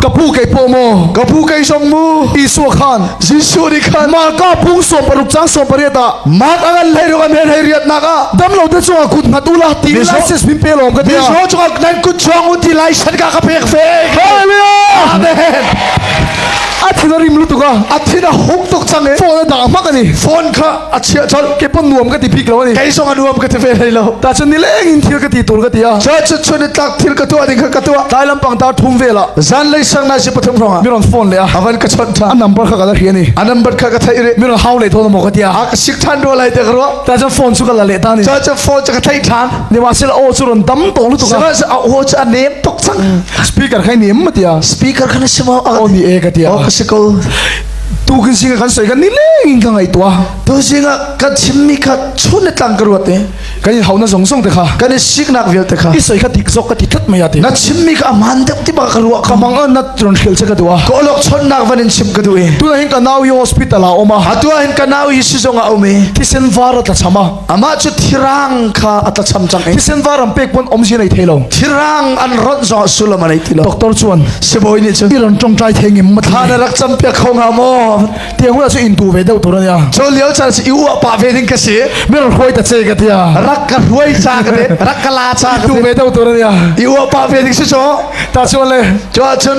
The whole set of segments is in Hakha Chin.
ka pu kei po maw ka pu kei song mu isua khan jesuh ni khan ma ka pung som paruk chang som pariat ah mark angan lai ro an hen hei riat nak a dam lo te chunga kut mat ula ti license pin pe lom ka ti misho chunga nan kut chong u ti license ka ka pek fe hallelujah amen a thin a rim lu tuka a thin a huk tuk chang e phone a da ma ka ni phone kha a chia chol ke pon nuam ka ti phik lo ni kei song a nuam ka ti ve hlei lo ta chun ni leng in thil ka ti tur ka ti a church chun ni tlak thil ka tua ding kha ka tua dai lampang ta thum ve la zan lei sang na si pathum ronga mi ron phone le a avan ka chon tha a number kha ka la ri ni a number kha ka thai re mi ron hau le tho mo ka tia a ka sik than ro lai te kro ta chun phone chu ka la le ta ni church phone cha ka thai than ni ma sil o chu ron dam to lu tu ka sa a o cha nem tok sang speaker khai nem ma tia speaker khana sima o ni e ka tia o ka sikol tu kan singa kan soi kan ni leng in ka ngai tua tu zinga kan chimmi kha chun le tlang ka ruat ne kan in hau na zong zong te kha kan i siknak vial te kha i soi kha tik zok ka ti thot mai ati na chimmi kha aman deuh ti ba ka ruwa ka mang na tron khil che ka tua ko lok chon nak van in chim ka du e tu na hin ka nau hi hospital a oma atu hin ka nau hi sizong a ome thisen vara tla chama amah cu thirang kha a tlacham cang i thisen va ram pek pun om si nei thei lo thirang an ron zong sullam a nei ti lo doctor chuan sibawi nih cun iran tongtai thengim thla na rak cham piak kho nga maw tiang hula chu in tu ve deuh tur ania cho liau chan si iu pa ve ding ka si mer rhoi ta che ka tia rak ka rhoi cha ka de rak ka la cha ka tu ve deuh tur ania iu pa ve ding si cho ta chuan le cho cun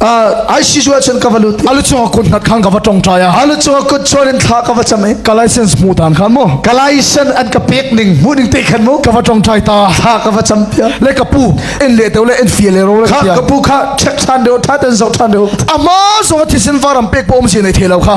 ai si chu cun ka va lut alu chung kut hlat khang ka va tong trai a alu chung kut chorin thla ka va cham e ka license mu tan khan mu ka license an ka pek ning mu ning te khan mu ka va tong trai ta thla ka va cham pia le ka pu en le te le en fie le ro le ka ka pu kha check than deu tha tan zo than deu ama zo thi sin varam pek pom si nei thelo kha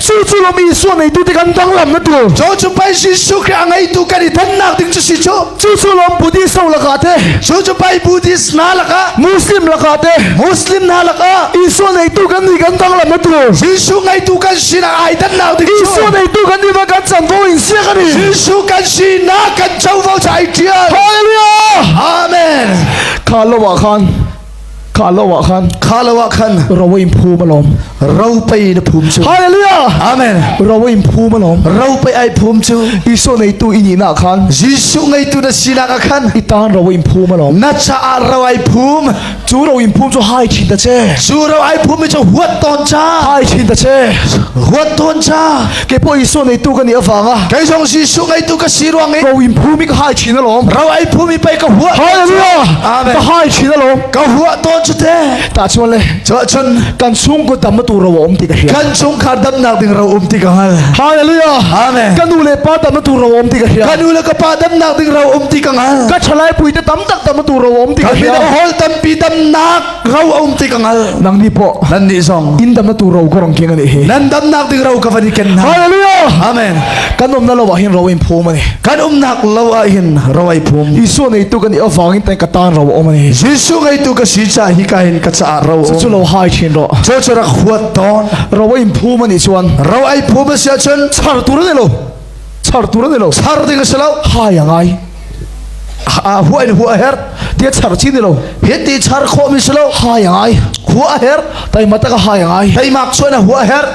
Cu cu lo mi Isuwa ngeitu te kan dang lam na tu. Cho cu pai Jesuh Khrih a ngeitu kan i thannak ding cu si cu. Cu cu lom Buddhist ho laka te. Chu chu pai Buddhist na laka. Muslim laka te. Muslim na laka. Isuwa ngeitu kan ni kan dang lam na tu. Jesuh ngeitu kan sin a ai thannak ding cu. Isuwa ngeitu kan ni va kan chan vo in sia kan i. Jesuh kan sin na kan chovo chai tial. Hallelujah. Amen. Kha lo wa khan Kha lo ah khan kha lo ah khan ro in phum alawm ro pei na phum cu hallelujah amen ro in phum alawm ro pei ai phum cu Isu neitu ini na khan Jesuh ngeitu na sinak ah khan i tan ro in phum alawm na cha ar ro ai phum cu ro in phum cu hai thin ta che cu ro ai phum mi chu huat ton cha hai thin ta che huat ton cha kepaw Isua neitu kan i avanga kei zong Jesuh ngeitu ka si ruang i ro in phumi ka hai chin alawm ro ai phumi pei ka hua hallelujah amen ka hai chin alawm ka hua ton chu te ta chuan le cho chun kan chung ku tam tu ro om ti ka hria kan chung khar dam nak ding ro om ti ka ngal hallelujah amen ka nu le pa tam tu ro om ti ka hria ka nu le ka pa dam nak ding ro om ti ka ngal ka thalai pui te tam tak tam tu ro om ti ka hria hol tam pi dam nak ro aum ti ka ngal nang nih pawh nan nih zong in dam na tu ro ka rong king ani hi nan dam nak ding ro ka van i ken na hallelujah amen kan um na lo ah hin ro in phum ani kan um nak lo ah hin ro ai phum isu nei tu kan i awang in tan ka tan ro om ani jesu gai tu ka si cha hi ka hin ka cha ro chu lo hai chin ro cho cho rak huat ton ro in phum ani chuan ro ai phum sia chen char tur ne lo sertu nan lo ser ding si lo hai ngai a hua in hua her tia char chin ni lo hiti char kho mi si lo hai ngai hua her tai mata ka hai ngai tai mak chuan a hua her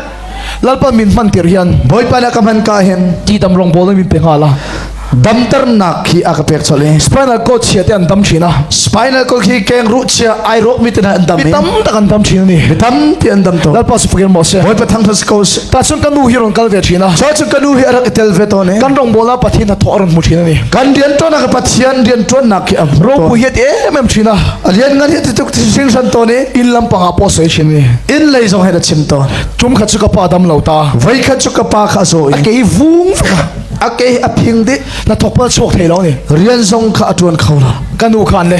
lalpa min man tir hian boipa na kam han ka hen ti dam rong bol min pe ngala dam tar nak khi aka pek chole spinal cord chia te an dam china spinal cord khi keng ru chia ai rok mi te na an dam mi tam tak an dam china ni mi tam ti an dam to lalpa su fakin mo se boipa thang thas ko Tahcun ka nu hi ron kal ve thin a. Sau cu ka nu hi arak itel ve ton e. Kan rong bola pathin ha thok ron mu thin ani. Kan rian ton ka pathian rian tuan nak ki am. Ro pu hiet em em thin a. Alian ngan hiet tuk sing san ton e. In lampang a po soi thin ni. In lei zong hei da chim ton. Tum kha chu ka pa dam lo ta. Vai kha chu ka pa kha zo. Ke vung a ke a phing di. Na thok pal chok thei lo ni. Rian zong kha atuan khau la. Ka nu khan ne.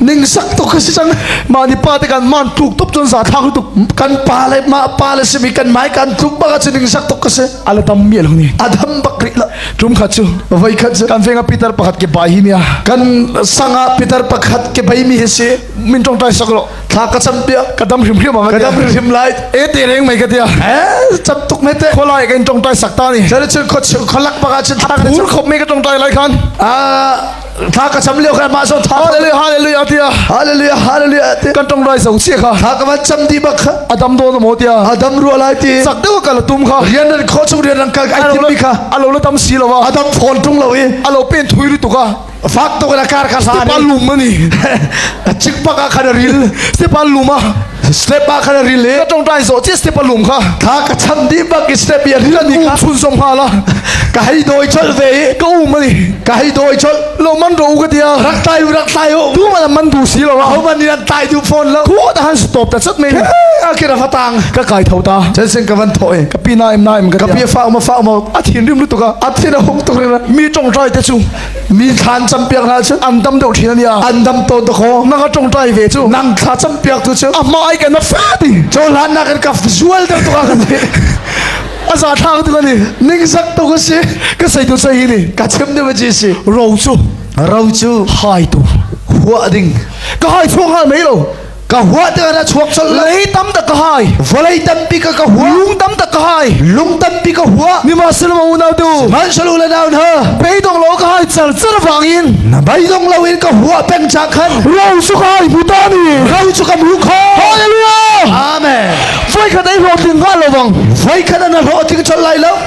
Ningsak tuk ka si cang. Mah ni pa te kan man tluk tuk cun za thak tuk. Kan pa le ma pa le simi kan mai kan tluk bak ci ningsak tuk ka si. Ala tam miel huni. Adam bakri la. Tum khat cu. Vai khat cu. Kan venga Peter pakhat ke bai hi nia. Kan sanga Peter pakhat ke bai mi hi si. Min tong tai sakro. Thla ka cham pia. Ka dam hrim hrim anga. Ka dam hrim hrim lai. E te reng mai ka tia. Eh cham tuk mai te. Kholai kan tong tai sakta ni. Jadi cu kholak baka cin thak. Pur khop mai ka tong tai lai khan. Ah Tha ka cham leo kha ma so tha hallelujah hallelujah tia hallelujah hallelujah ti kan tong rai so si kha tha ka ma cham di bak adam do no mo tia adam ru lai ti sak deu ka la tum kha rian ran kho chung rian ran kal ai tim mi kha alo la tam si lawa adam phone tung lo i alo pen thui ru tu ka fak to ka kar kha sa ni palum mani chik pa ka khana ril si paluma step ah khan ril i tong dai zo chi step alum kha tha ka cham di bak step ya ril ani ka chun song hala ka hai doi chal ve ka um ani ka hai doi chal lo man ro ka dia rak tai rak tai o tu man man du si lo ho man ni ran tai du phone la ko ta han stop ta chat men akira fatang ka kai thau ta chen sen ka van thoi ka pi na em na em ka pi fa ma fa ma athin rim lu to ka athin a hok to re mi tong trai te chu mi thlan cam piak hna cun an dam deuh thin ania an dam to to kho na ka tong tai ve chu nang thla cam piak tu chu a ma ai kan fa ti cho hlan na kan ka zual deuh to ka kan ni a za thang tu ka ni ning zak to ka si ka sei tu sei ni ka chem de ji si ro chu ro chu hai tu hua ding ka hai phuang ha mai lo ka hua te ra chuak chal lei tam ta ka hai vawlei tampi ka ka hua lung tam ta ka hai lung tampi ka hua mi ma sin ma unau tu man shalu le down ha pei dong lo ka hai char char wang in na bai dong lo in ka hua peng cha khan ro su kai buta ni ro chu ka mu kha hallelujah amen voi khat ai ro tin ga lo bang voi khat na ro ting chal lai lo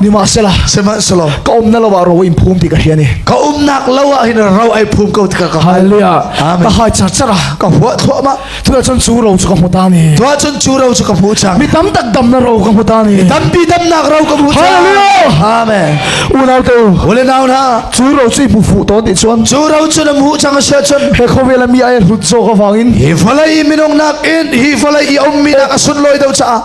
nimahsela sihmanhselaw ka umna lo ah ro in phum ti ka hria ni ka umnak lo ah hin ro ai phum ko tika ka haleluya ka hai char chara ka hua thua ma tua chon chu ro chu ka hmu ta ni tua chon chu ro chu ka hmu chang mi tam tak dam na ro ka hmu ta ni tam pi dam nak ro ka hmu haleluya amen unau te ule nau na chu ro chu pu fu to ti chuan chu ro chu na mu chang se chon he khowela mi ai hlut zo ka wangin hi falai minung nak in hi falai i om mi nak asun loi do cha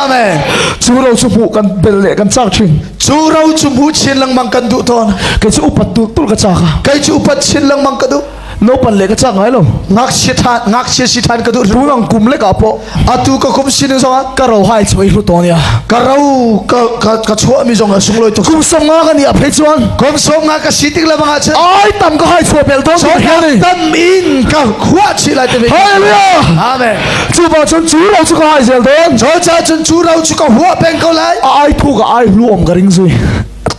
Amen. Cu ro cu hmuh kan bel le kan cak thin. Cu ro cu hmu chin lengmang kan duh tawn. Kei cu upat tul tul ka cak. Kei cu upat chin lengmang ka duh. No pan le ka cak ngai lo. Ngak si than ngak si si than ka duh. Tu mang kum le ka po. Atu ka kum sin zong ah ka ro hai choi hlu ton ya. Ka ro ka ka ka chua mi zong a sung loi to. Kum som nga ka ni a phei chuan. Kum som nga ka si tik la bang a che. Ai tam ka hai chua pel to. So tan in ka khua chi lai te. Hallelujah. Amen. Cu pa cun cu ro cu ka hai zel ding. Chol cha cun cu ro cu ka hua peng ko lai. A ai phu ka ai hlu om ka ring zui.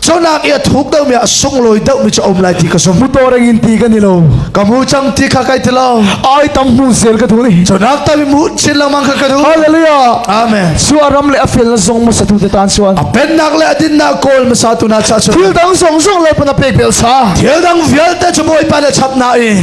Jonak ia thuk deuh mi a sung loi deuh mi cu om lai ti ka zum. Mu to reng in ti kan i lo. Ka mu cang ti kha kai ti lo. Ai tam mu zel ka thu ni. Jonak ta mi mu chin lang mang kha ka du. Hallelujah. Amen. Su a ram le a fel la zong ma sa tu te tan chuan. A pennak le a dinnak kawl ma sa tu na cha chun. Thil dang zong zong le puna pek bel sa. Thil dang vialte cu bawi pa le chap na i.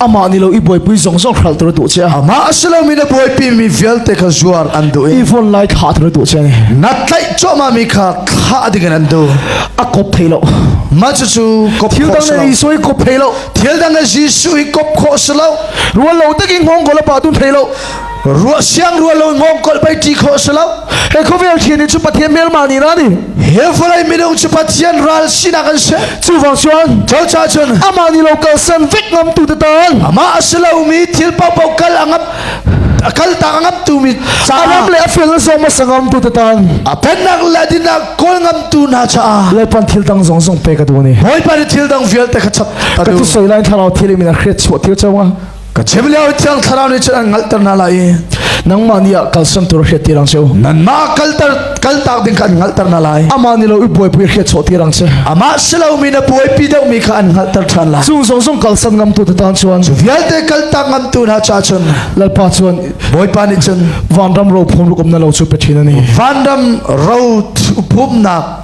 amah ni lo i buaipui zong zong hral tur duh che ama asilomi na buaipi mi vialte kha zuar an duh i ivon lai kha tur duh che ni na tlaih choma mi kha thla ding an du a kop thei lo ma chu chu kop thil dang na isu i kop thei lo thil dang na jisu i kop kho se lo rual lo takin hong gola pa tun thei lo ruah siang rual lo ngom kol bai ti kho se lo he khovel thian ni chu pathian mel ma ni ra ni he falai milung chu pathian ral sina kan se chu wang chuan cho cha chun ama ni lo kal san vek ngam tu te tan ama asilo mi thil pau pau kal angap akal ta angap tu mi alam le afel na zong ma sangam tu te tan apenak ladina kol ngam tu na cha leipan thil dang zong zong pe ka du ni hoi pa thil dang vial te ka chap ka tu soi line tharau thil min a khret chuah thil chawanga ka chem lio thiang thlarau nih cun an hngalhter hna lai i nangmah nih ah kalsan tur hriat ti rang cheu nanmah kalter kaltak ding kha an hngalhter hna lai amah nih lo i buaipui hriat chawh ti rang cheu amah si lomi na buaipi deuhmi kha an hngalhter ṭhan lai cu zong zong kalsan ngam tu tatan chuan cu vialte kaltak ngam tu hna cha chun lalpa chuan bawipa nih cun vanram ro phum rukum na lo chu pe ṭhin ani vanram ro phumnak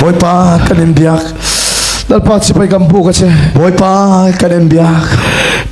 Bawipa kan in biak Lalpa sipai kan bu ka che Bawipa kan in biak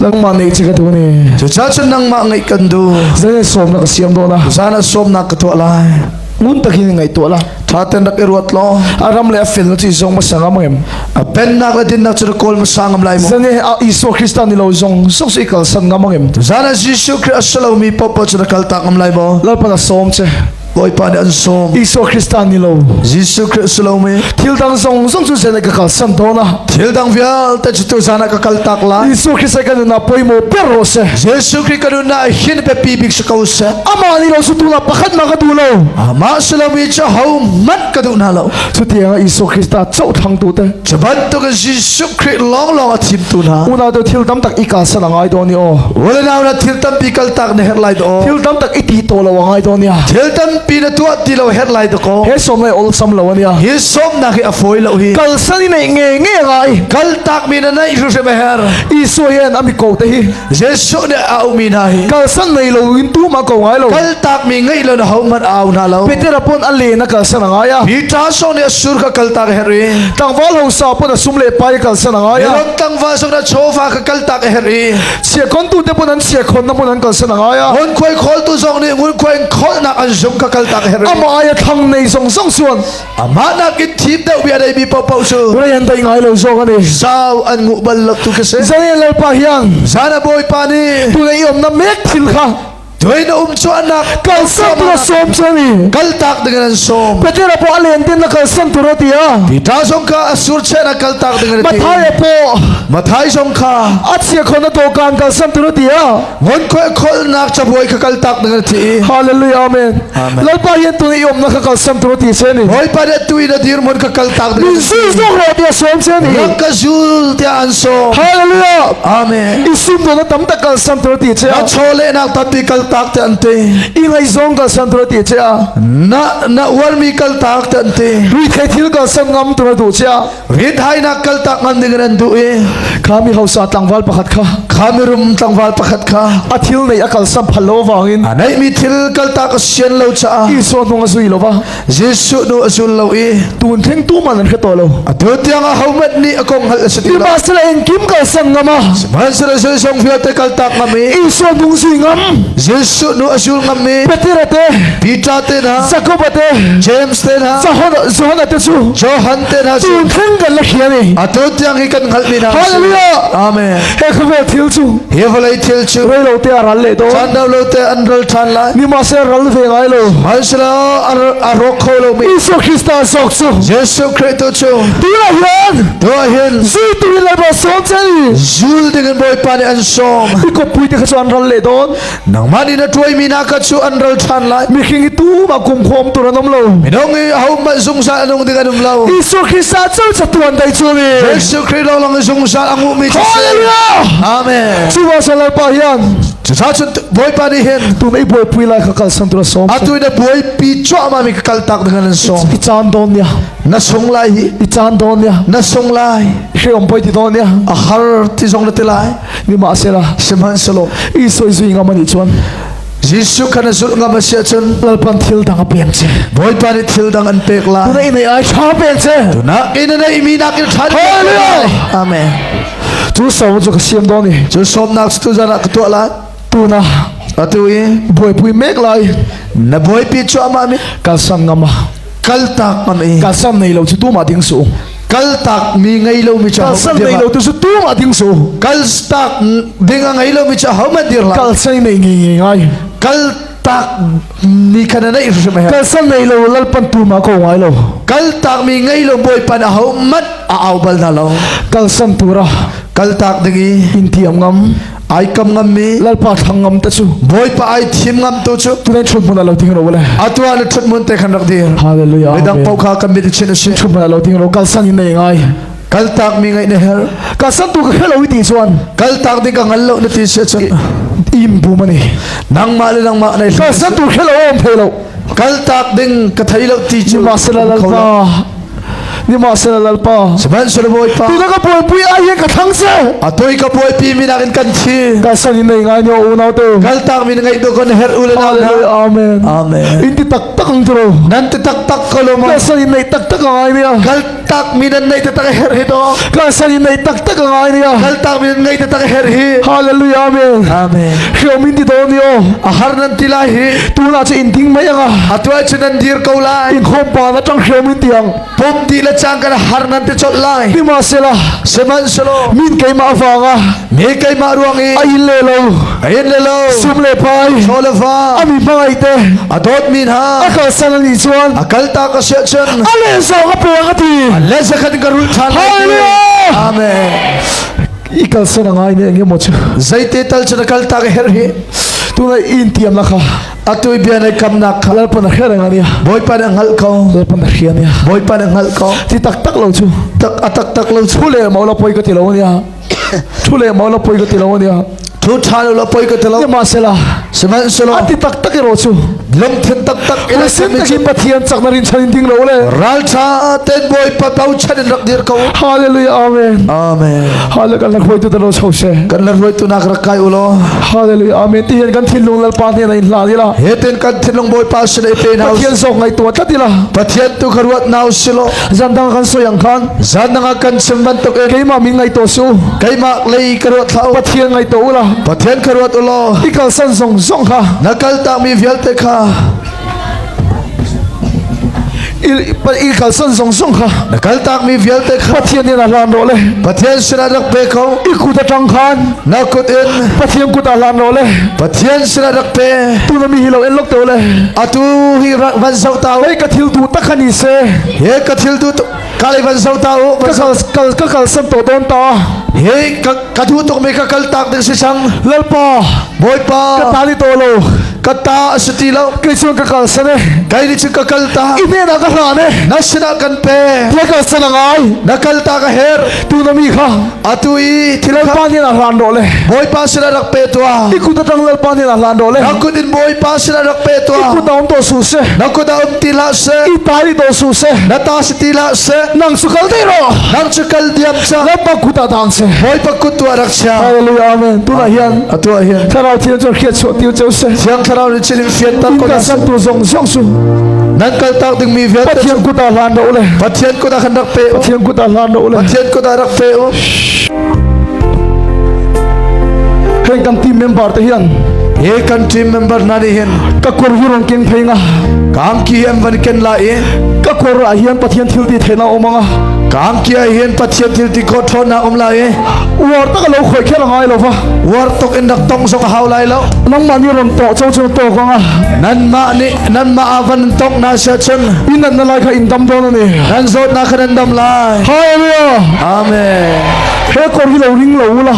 Nangmah ngeih che ka tu ni Cuca cu nangmah ngeih kan du Zai sawm na ka siam do la Zan sawm na ka tuah lai Ngun takin ngai tuah la Thaten rak i ruat lo Aram le afil na ti zong masang am em A pennak la dinnak cu kol masang am lai mo Zane a Iso Krista ni lo zong Sok si kal san ngam am em Zan a Jesu Christ salomi popo cu na kal tak am lai mo Lalpa na sawm che Bawipa nih an sawm Isua Krista ni lo Jesuh Christ lomi thil dang zong zong cu sen ka kal san to na thil dang vialte cu tu zan ka kal tak la Isua Krist kan na poimo per ro se Jesuh Christ kan na hin pe pi bik se ko se amah ni lo su tu na pakhat ma ka du lo amah selawi cha ho man ka duh hna lo cutiang Jesuh Christ a cothlang tu te cu bantukin Jesuh Christ lawnglawng a thim tu hna unau tu thil tam tak i ka sala ngai do ni o wala na na thil tam pi kal tak ne her lai do thil tam tak i ti to lo ngai do ni thil tam pi na tuah ti lo her lai do ko he som lai ol sam lo ania hi som na ki a foi lo hi kal sani nei nge nge ngai kal tak mi na nei hru hre her Jesuh hian ami ko te hi Jesuh nih a ummi hna hi kalsan nei lo in tu ma ko ngai lo kaltak mi ngei lo na ho hmanh au hna lo Peter pon a le na kalsan a ngai a Peter so nih sur ka kaltak her i tlangval ho sa pon a sum le pai kalsan a ngai a ron tlangval so na chofa ka kaltak her i chia kon tu te pon an chia khon na pon an kalsan a ngai a hun khoi khol tu zong nih ngun khoi khol nak an zung ka kaltak her i ama ai thang nei song song suan Amah nakin thim deuh bia dei mi paohpaoh cu Rai an dei ngai lo zawng an i zau an nguh bal lo tu ka si. Zane lalpa hiang Zan a bawipa nih tu ngei om na mek thil kha tuin na um chuahnak kal sam tu som chani kal tak ding an som Petera po a len tin na kal sam tu ro tia Peter song kha a sur che na kal tak ding an ti Mathai po Mathai song kha a chia khon na to kan kal sam tu ro tia Hallelujah, amen. Lalpa hian tu i umna ka kal sem tu ti se ni. Lalpa de tu ina dir mon ka kal tak de. Min su zong ra dia som se ni. Ram ka zul te an so. Hallelujah. Amen. Isim tu na tam tak kal sem tu ti che. Na chole nak tapi kal tak te ante. I ngai zong kal sem tu ti che. Na na war mi kal tak te ante. Ri thai thil kal sem ngam tu du che. Ritainak kaltak ngan ding in an duh i khami hausa tlangval pakhat kha khami rum tlangval pakhat kha a thil nei a kal sam phal lo wangin a nei mi thil kaltak a sian lo caah Isua hnung a zui lo va Jesuh nu a zul lo i tun theng tu man an hre to lo a tu tiang a homat ni a kong hal a si ti ba sala in kim kal sam ngama manhsara zai song vialte kaltak ngam i Isua hnung zui ngam Jesuh nu a zul ngam mi Peter te Peter te na Jacob te James Johan te cu Johan te na cu theng kan la khia ni atu tiang hi kan ngal mi na hallelujah amen he khwe thil chu he vlai thil chu rei lo te aral le do chan lo te an rel than lai ni ma se ral ve ngai lo halsla aro kho lo mi Isu Krista sok chu Jesu Kristo chu ti la hian to hin zu tu la ba som chai zul de kan boy pa ni an som i ko pui te kha chuan ral le don nangmah nih na tuaimi hna kha cu an ral ṭhan lai mihring hi tu ma kum khom tur an um lo minung i ho hmanh zungzal an um ding an um lo Jesuh Christ ah cu catuan dei cu mi Jesuh Christ lawng lang in zungzal a nguhmi cu si Hallelujah Amen cu wa salar pa hian cuca cun bawipa nih hin tu mei buai pui lai kha kal san tura som atu na buaipi cuahma mi ka kal tak ding an som i caan dawn nia na sung lai hi i caan dawn nia na sung lai hreom poi ti dawn nia a har ti zong na ti lai nimahsela sihmanhselaw Isua zui ngam an i chuan Jesuh kan zulh ngam a si ahcun lalpan thil dang a pek che Bawipa nih thil dang an pek lai tunai nei ai tha pek che tunak in nei mi nak in tha Hallelujah Amen cu sau cu ka siam do ni cu sawmnak tu zan ah ka tuah la tuna atu i buaipui mek lai na buaipi chu ama mi ka sang ngama kaltak man i ka sam nei lo chu tu ma ding su kaltak mi ngei lo mi cha ka sam nei lo tu su tu ma ding su kaltak ding ngei lo mi cha how ma dir la kal sai nei ngi ngi ngai kal tak ni khana nei hrim he ka sam nei lo lal pan tu ma ko ngai lo kal tak mi ngei lo boy pan a ho mat a au bal na lo kal sam tura kal tak dingi in thiam ngam ai kam ngam mi lalpa thang ngam ta chu bawipa ai thim ngam tu chu tu ne thut mun lo ting ro le atwa le thut mun te khan rak dir hallelujah midang pau kha kan mit chin sin thut mun lo ting ro kal san in nei ngai kal tak mi ngai ne her ka san tu ka khelo ti chuan kal tak ding ka ngal lo na ti se chu im bu mani nang ma le nang ma nei ka san tu khelo om phelo kal tak ding ka thai lo ti chu ma sala lalpa Nimahsela Lalpa Sihmanhsehlaw Bawipa Tina ka puanpui ah hian ka thang seh A toi ka buai pi mi nakin kan thi Ka sang in nei ngai ni unau te Kal tak min ngaih tu kon her ulen Hallelujah Amen Amen In ti tak tak ang tro Nan te tak tak ko loma Ka sang in nei tak tak ngai ni Kal tak min an nei te tak her hi to Ka sang in nei tak tak ngai ni Kal tak min an ngai te tak her hi Hallelujah Amen Amen Hiomin ti to ni o A har nan ti lai hi Tuna che in ding mai anga A tuai che nan dir ko la in khawmpa na tang hriam in tiang pom ti le chang kan har nan te chol lai ni ma sela seman selo min keima wanga me keima ruang i a in le lo a in le lo sum le pai chole fa ami mangai te a dot min ha a kal san ni chuan a kal ta ka se chen a le so ka pe ka ti le zakhat ka rul than hallelujah amen i kal san ngai ne nge mo chu zaite tal chana kal ta ka her hi tuna in tiam la kha Atui bia nei kamnak kha Lalpa na hrial ngang nia Bawipa nih a hngalh ko Lalpa na hria nia Bawipa nih a hngalh ko Ti tak tak lo cu Tak a tak tak lo Thu le mau la poi ka ti lo nia Thu le mau la poi ka ti lo nia Thu tha lo la poi ka ti lo Yama sela Sihmanhsehlaw Ati tak tak i ro cu Lungthin tak tak Ina sin tak in Pathian sak na rin chanin ding lo le Raltha ten Bawipa tau chan in rak dir ko Hallelujah Amen Amen Hallelujah kan la hruaitu ta ro cho she Kan la hruaitu nak rak kai ulo Hallelujah. Amen. Ti hian kan thinlung lalpa hnen a in hlan ila. Heten kan thinlung bawipa sin ai pe na. Pathian sok ngai tua tlat ila. Pathian tu ka ruat na silo. Zan dang kan soyang khan. Zan nanga kan sim ban tok e. Keima min ngai to su. Keima lei ka ruat thau. Pathian ngai to ula. Pathian ka ruat ulo. Ikal san song song kha. Nakal ta mi vialte kha. i kalsan zong zong kha na kal tak mi vialte kha pathian in a hlan ro le pathian sin rak pe ko i kut atang khan na kut in pathian kut a hlan ro le pathian sin rak pe tu na mi hi lo en lok te le atu hi rak van sau ta le ka thil tu takani se he ka thil tu Kalai van zo ta u, van zo ka ka kal san to don ta. Hey, ka ka du tuk me ka kal tak ding si sang. Lalpa, Boypa, ka ta ni to lo. ka ta asi ti lo. Kai sun ka kal san e. Kai ni chu ka kal ta. Ine na ka hla ne. Na sina kan pe. La ka san ngai. Na kal ta ka her. Tu na mi kha. atu i thil kha Lalpa hnenah hlan rawh le Bawipa sinah rak pe tuah i kut atang Lalpa hnenah hlan rawh le na kut in Bawipa sinah rak pe i tuah kut ah um daw suh se na kut ah um ti hlah seh i ta i daw suh se na ta si ti hlah seh nang su kal thei rawh nang cu kal diam sa Lalpa kut ah dang se Bawipa kut tuah rak chia Hallelujah amen tunah hian atu ah hian thlarau thil cu khiat chuah tiu cheu se siang thlarau nih chiling fian tak ko ka san tu zong zong su nan kal tak dingmi vialte Pathian kut ah hlan rawh le Pathian kut ah khan rak pe Pathian kut ah hlar lo le Pathian kut ah rak pe u hei kan team member te hian he kan team member na nih hin ka kor hi rong keng phai nga kang ki em van ken la e ka kor ah hian pathian thil ti thena omanga kang ki hian pathian thil ti ko thon na om la e war tak lo khoi kher ngai lo va war tok in rak tong sok hau lai lo nang man ni ron to chau chau to kwanga nan ma ni nan mah ah van tok na sia chun inan na lai kha in dam don ni nan zawt na kha nan dam lai hallelujah amen he kor hi lo ring lo la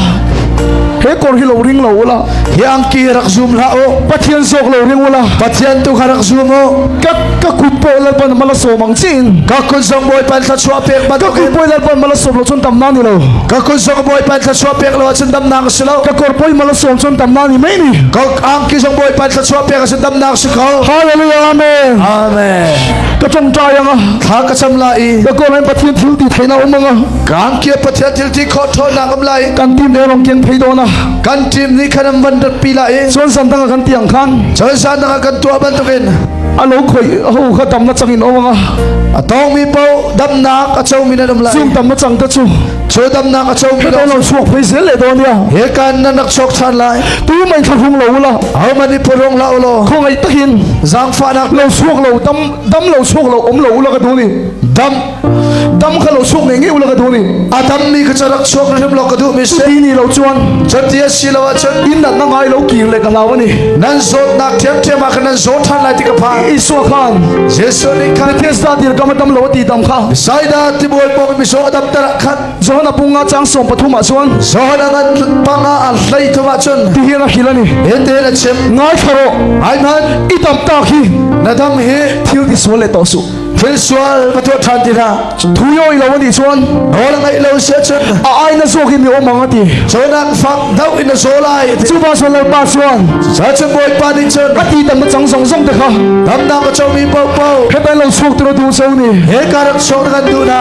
he kor hi lo ring lo la hi angki rak zoom la o pathian sok lo ring la pathian tu kha rak zoom o ka ka kun po lal pan mala so mang chin ka kun sang boy pan thla chwa pek ba ka kun boy lal pan mala so lo chun tam na ni lo ka kun sang boy pan thla chwa pek lo chun dam na ka silo ka kor poi mala so chun tam na ni mai ni ka angki sang boy pan chuah pek asi damnak si ko Hallelujah Amen Amen ka tongta yang a thla ka cham la i ka ko lai pathian thil ti theina um anga gang kia pathian thil ti kho tho na kam lai kan team ne rong kian phei do na kan team ni khanam van dat pi la i chuan sam tanga kan tiang khan chal sa tanga kan tua ban tukin alo khoi ho kha tam na changin owanga atong mi po damnak acho min adam lai sum tam na chang ta chu Cho damnak a cho mi lo lo suak phei zel le don ya he kan nan rak chok than lai tu mai thlarung lo la hau man i porong la lo kho ngai takin zang fa nak lo suak lo dam dam lo suak lo om lo ula ka du ni dam dam ka lo suak ne nge ula ka du ni adam mi ka charak chok rem lo ka du mi se ni lo chuan chatia si lo chan in na ngai lo kir le ka lawa ni nan zot nak them them ma ka nan zo than lai ti ka pha isua khan jesu ni khan thesa dir kam tam lo ti dam kha saida ti bol pok mi so adam Johan a pung a chang sawm pathum ah chuan Johan a ngan pang a an hlei thum ah chun ti hi ra hil ani hete na chim ngai tharo ai nan i tam tak hi na dam hi thil ti sual le to su thil sual ka tuah than ti na thu yo i lo ani chuan ol ngai lo se chun a ai na zo gi mi om anga ti chonak fak dau in na zo lai chu ba so lal pa chuan sa chun boy pa ni chun ka ti tam chang zong zong te kha dam na ka cho mi po po he ban lo sok tro tu so ni he karak sok kan du na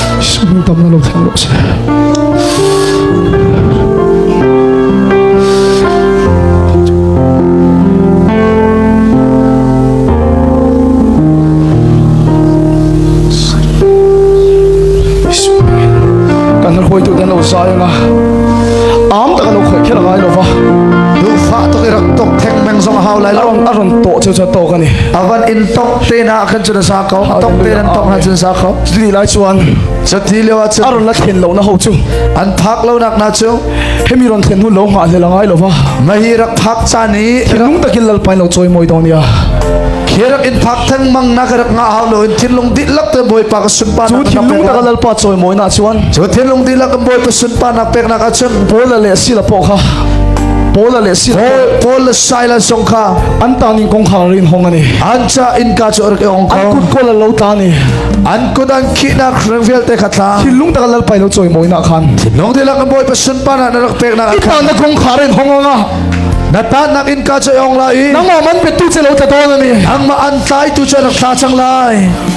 Sambam na lo thang lo si. Kan hoi tu dan lo sayang a. Am ta kan lo khoi kher ngai lo va. Nufa to irak tok thek meng zong hau lai lo. Aron aron to chu chu to kan ni. Avan in tok te na kan chun sa ko. Tok te nan tok na chun sa ko. Chutih lai chuan chati leo ah cun aron la thlen lo na ho chu an thak lo nak na chu hemi ron thlen hun lo nga le langai lova ma hi rak phak cha ni lung takin lal pai lo choi moi dong nia hirak in phak thang mang na ka rak nga hau lo in thinlung di lak te boy pa ka sun pa chu thinlung ta lal pa choi moi na chuan chu thinlung di lak boy pa sun pa nak pek na ka chun bola le si la po kha Paul le si Paul le Silas song kha an ta ning kong kha rin hong ani an sa innka cu a rak ong an kut kual lo ta ni an kut an khihnak rang vialte kha thla khi lung taka lal pai lo choi moi na khan nong de la ka boi pasun pa na na rak pek na i pa na kong kharen hongonga na ta nak in ka choi ong la i nang man pe tu che lo ta don ani ang ma an tlai tu cha rak thla chang lai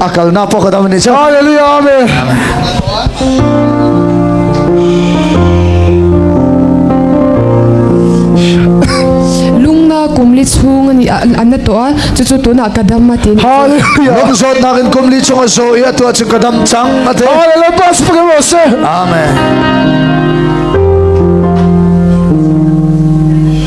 a kalnak poh ka dam ni cu hallelujah amen kumli chung ani anna to a chu chu tuna kadam ma tin hallelujah lam zot nak in kumli chung a zo ya to chu kadam chang ate hallelujah pastor se amen